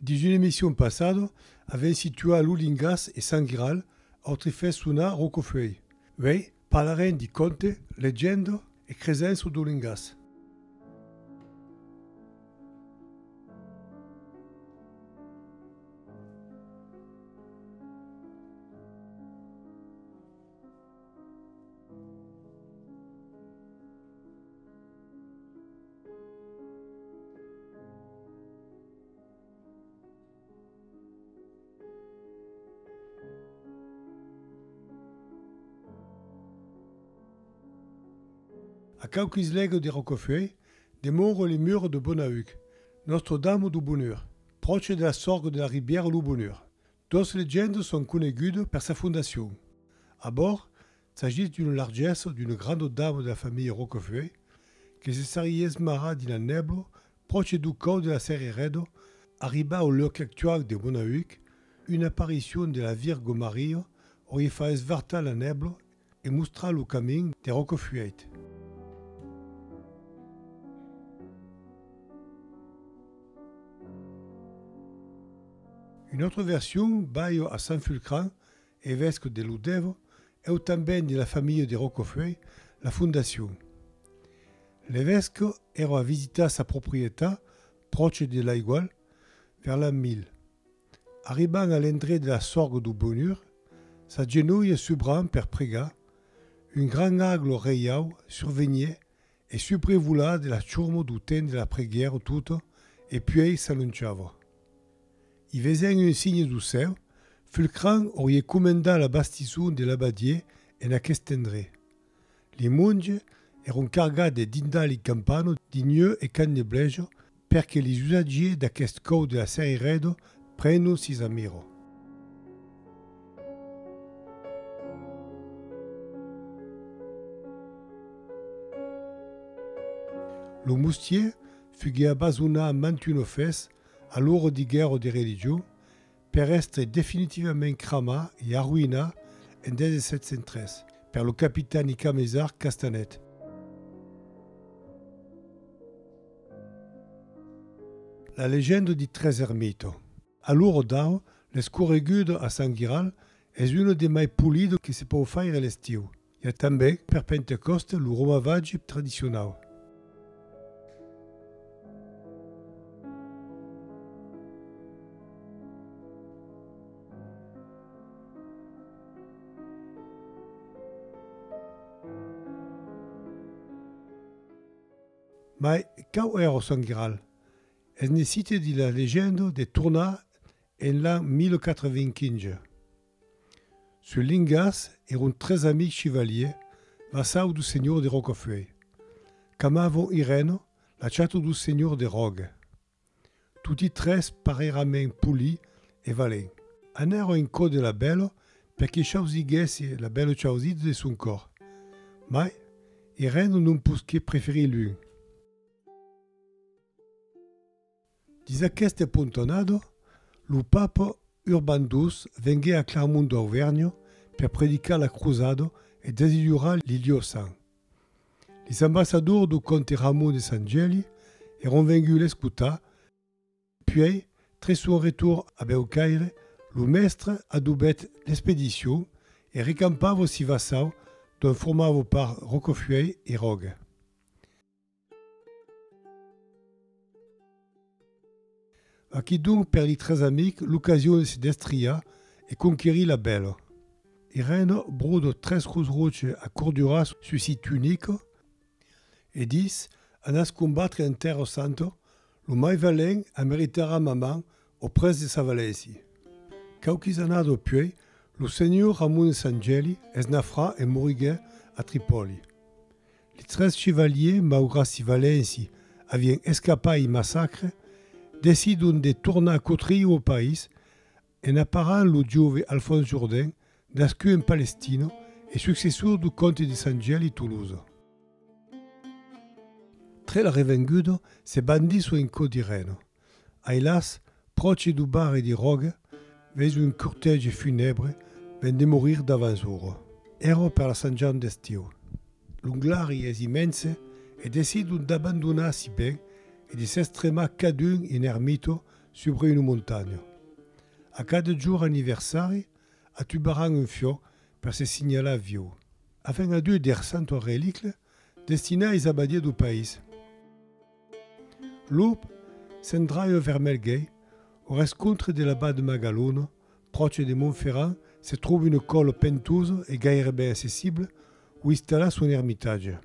Dins una emission passada, avèm situat lo lingàs e Sant Giral, autre fèt sonar Rocofeuille. Uèi, parlarem de cònte, legenda e cresença dau lingàs. A quauquis lègas de Rocafuèit demòra le Mur de Bonaüc, Nòstre Dama do Bonheur, pròche de la sòrga de la ribièra Lo Bonheur. Dos legendas son conegudas per sa fondacion. Abord, s'agís d'una largessa d'una granda dama de la familha Roquefue que se sarie esmarrada dina nèbla pròche dau còu de la Serrereda, arribar au lòc actual de Monaüc, una aparicion de la Virga Maria aurie fa esvartar la nèbla E mostrar lo camin de Rocafuèit. Una autra version, Balho a Sant Fulcran, evesque de Lodèvo, eu tanben de la familha de Rocafuèit, la fondacion. L'evesque èra a visitar sa proprietat, pròche de l'aigual, vers l'an 1000. Arribant a l'endret de la sorga du Bonur, s'agenolhe subran per pregar, un gran aglo reiau survenie e subrevola de la churmo du temps de la preguièra tota e puei s'alonchava. I vesent un signe du cèu, Fulcran aurie comendat la bastison de l'abadier en aquest endret. Li monge èron cargats de dindali campano di nheu e can de blejo perque li usatgier d'aquest còu de la sèri Redo preno si sa miro. Lo mustier fugué abasonat mantun ofès a l'oro di guèrro de religion per èstre definitivament cramat e arruïnat en 1703 per lo capitan i camesard Castanet. La legenda di tres ermitos. A lo Rodau, l'escorregudo a Sant Guiral es uno de mai polido que se pòu faire l'estiu. I a tanben, per Pentecòste, lo romavatge tradicionau. Mai quau èra o Sant Graal? Es ne cite dins la legenda de tornar en l'an 1425. Sul Lingas eron tres amics chivaliers vassau do senhor de Rocafuèi, qu'amavan ireno la chata do senhor de Ròga. Toti tres parèirament poli e valent. Anèron en cò de la Bèlo per que chausiguèsse la Bèlo chausida de son còr. Mai, ireno non posqué preferir l'un. Dins aqueste pontonado, lo Papa Urban ii venguèt a Clermont d'Auvergne per predicar la crosada e desillurar li liosans. Lis ambassadors do comte Ramon de Sant Gèli èron venguts l'escotar, puèi, tre son retorn a Bèucaire, lo mèstre adobèt l'expedicion e recampava Sivassau dont formava part Rocafuèi e Roga. Vaquí donc per li tres amics l'ocasion de se destriar e conquerir la bèla. Irène brode tres grosses ròches a corduras sus si tunic e dis, Anatz combatre en tèrra santa, lo mai valent ameritarà ma man au prètz de sa valèsi. Quauquis annadas apuèi, lo senhor Ramon de Sant Gèli es nafrat e moriguèt a Tripòli. Li tres chevaliers, maugrat si valenci, avián escapat ei massacre, decidon de tornar cotriu au país en aparant lo jove Alphonse Jourdain, nascut en Palestino e successor du comte de Saint-Gel e Toulouse. Tre la revenguda, se bandissent en cau d'Irène. Ailas, pròche du bar e di ròga, veis un cortège funèbre ven de morir davans ora. Èra per la Sant Jan d'estiu. L'Onglari es immense e decidon d'abandonar si ben e de s'estremar cadun in ermito subre una montanha. A cada jor anniversari atubaran un fiò per se signalar viu. Afin a Dieu der Santua Relicla, Destinat a Isabadia du País. Lop se'n draieu vers Melgei, au rescontre de la Bas de Magalona, pròche de Montferrand, se tròba una còla pentosa e gaireben accessibla où installar son ermitatge.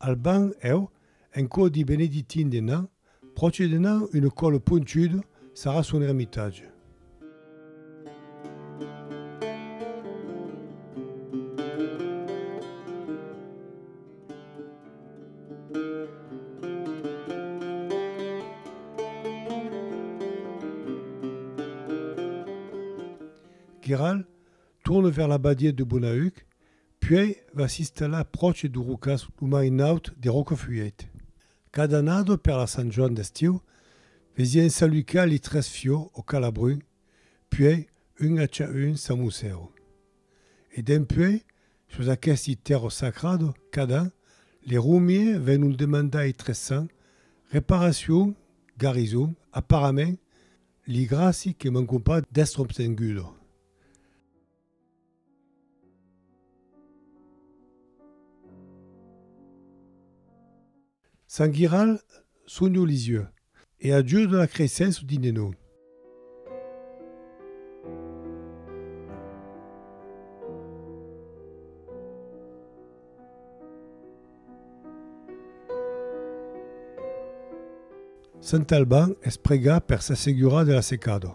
Al banc eu en quò di benedictin de nan pròche de nan une còlo ponchudo sarà son ermitatge. Guiral tourne vers la badièt de Bonaüc Puèi va s'installar pròche du Rocàs lo marinaut de Rocafuèit. Cada annada per la Sant Joan d'estiu vesiá ensalucar li tres fiò o calabrun, puèi un a cha un samussèu. E dempuèi, sus aquesti tèrra sacrada, cada an, li romier vènon demandar i tres sants, reparacion, garison, aparament, li gràci que mancon pas d'èstre obtenguda. Sant Giral sonho Lisieu e a Dieu de la creissent su dine nau. Sant Alban es pregar per s'assegurar de la secada.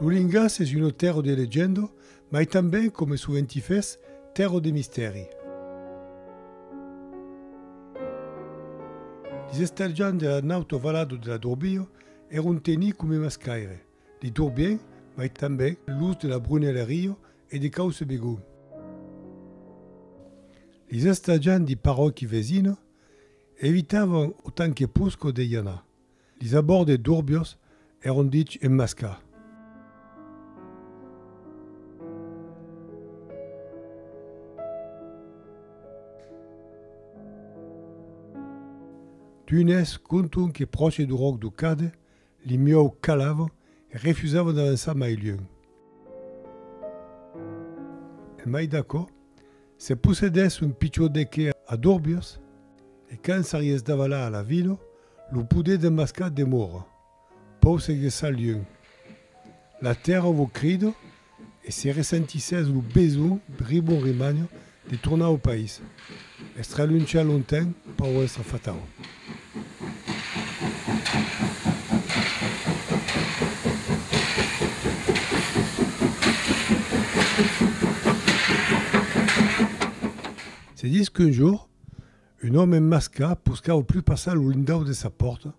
Lo lingàs es una tèrra de legenda mai tanben, coma soventi fes, tèrra de mistèri. Li estalhants de la nauta valada de la Dorbia èron tenits coma mascaire, li Dorbiens, mai tanben los de la Brunelleria e de Causse-Begau. Li estalhants de paròqui vesina evitavan autant que posca de i anar, Li sabòrdes durbios èron dich emmascar. D'unes conton que pròche du ròc du Cade, li miòu calavan e refusavan d'avançar mai luènh. E mai d'aquò, se possedèsse un pichon de qué a Durbios, e quand s'arries davalar a la vila, Lo poder demascat demòra. Pòu se gessar luenh. La tèrra vos crida e se ressentissètz lo besonh ribon rimagna de tornar au país, estralunchar lonten pauença fatau. Se dis qu'un jour, Un òme masca poscau plus passar lo lindau de sa pòrta,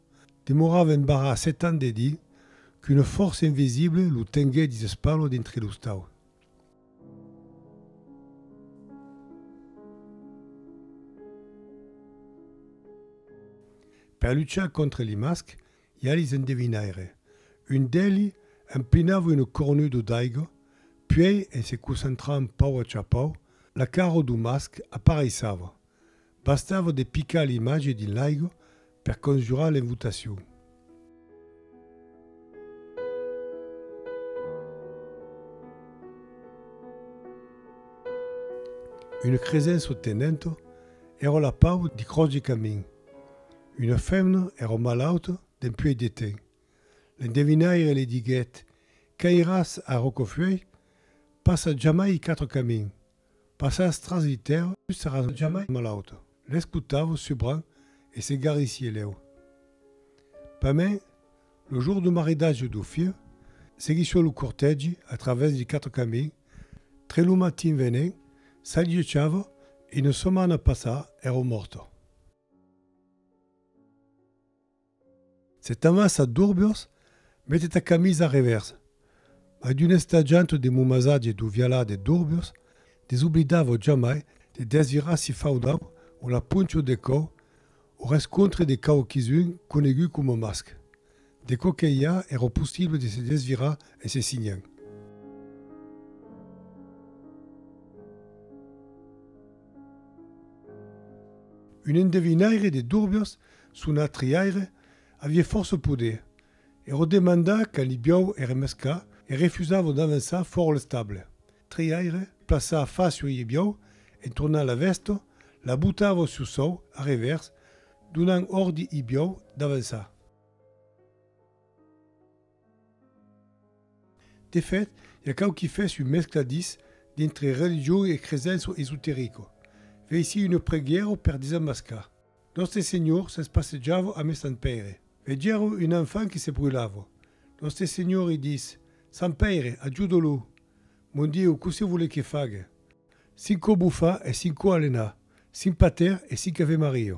demorava en barrar setant de dir qu'una fòrça invisible lo tenguè dins espalo dintre lo stau. Per luchar contra li masc, Jalis endevinaire. Un d'eli emplinava un cornudo d'aiga, puei en se concentrant pau a chapau, la cara do masc apareissava. Bastava de picar l'image dins l'aiga per conjurar l'invotacion. Un cresenço tenenta era la pau di croç de camin. Una femna èra malauta dempuèi de temps. L'endevinaire li diguèt, Quand iràs a Rocaufeuille, passa jamai quatre camins. Passaràs tras li tèrra, tu seràs jamai malauta. L'escotava subran e se garrissié lèu. Pamèn, lo jour du maridatge du filh, seguissió lo cortègi a travèrs li quatre camins, tre lo matin venent, s'alliechava e una setmana passada èra morta. Se t'amassa d'urburs, mete ta camisa a revèrs. Mai d'un estatjant de mon masatge d'oviala de d'urburs, desoblidavo jamai de desvirar si faudau o la poncho de còu o rescontre de quauquisun conegut coma masc. De co que i a, ero possible de se desvirar e se signan. Un endevinaire de Durbios, son atriaire, avie fòrça poder. Ero demandat quand li biau ère mescla e refusavo d'avançar fòra l'estable. Triaire, plaçar fàcia oi e biau, entornar la vèsta, la botar oi su sòu, a revèrs, donant ordi oi biau d'avançar. De fèt, i a quauqui fès un mescladís dintre religion e cresença esoterica. Veici una preguièra per desamascar. Nòste Senhor se's passejava amé Sant Pèire. Vegèro un enfant que se brulava. Nòste Senhor i dis, Sant Pèire, ajudo-lo! Mon Dieu, cossé volé que fague? Cinco bufa e cinco alena, cinc Pater e cinc Ave Maria.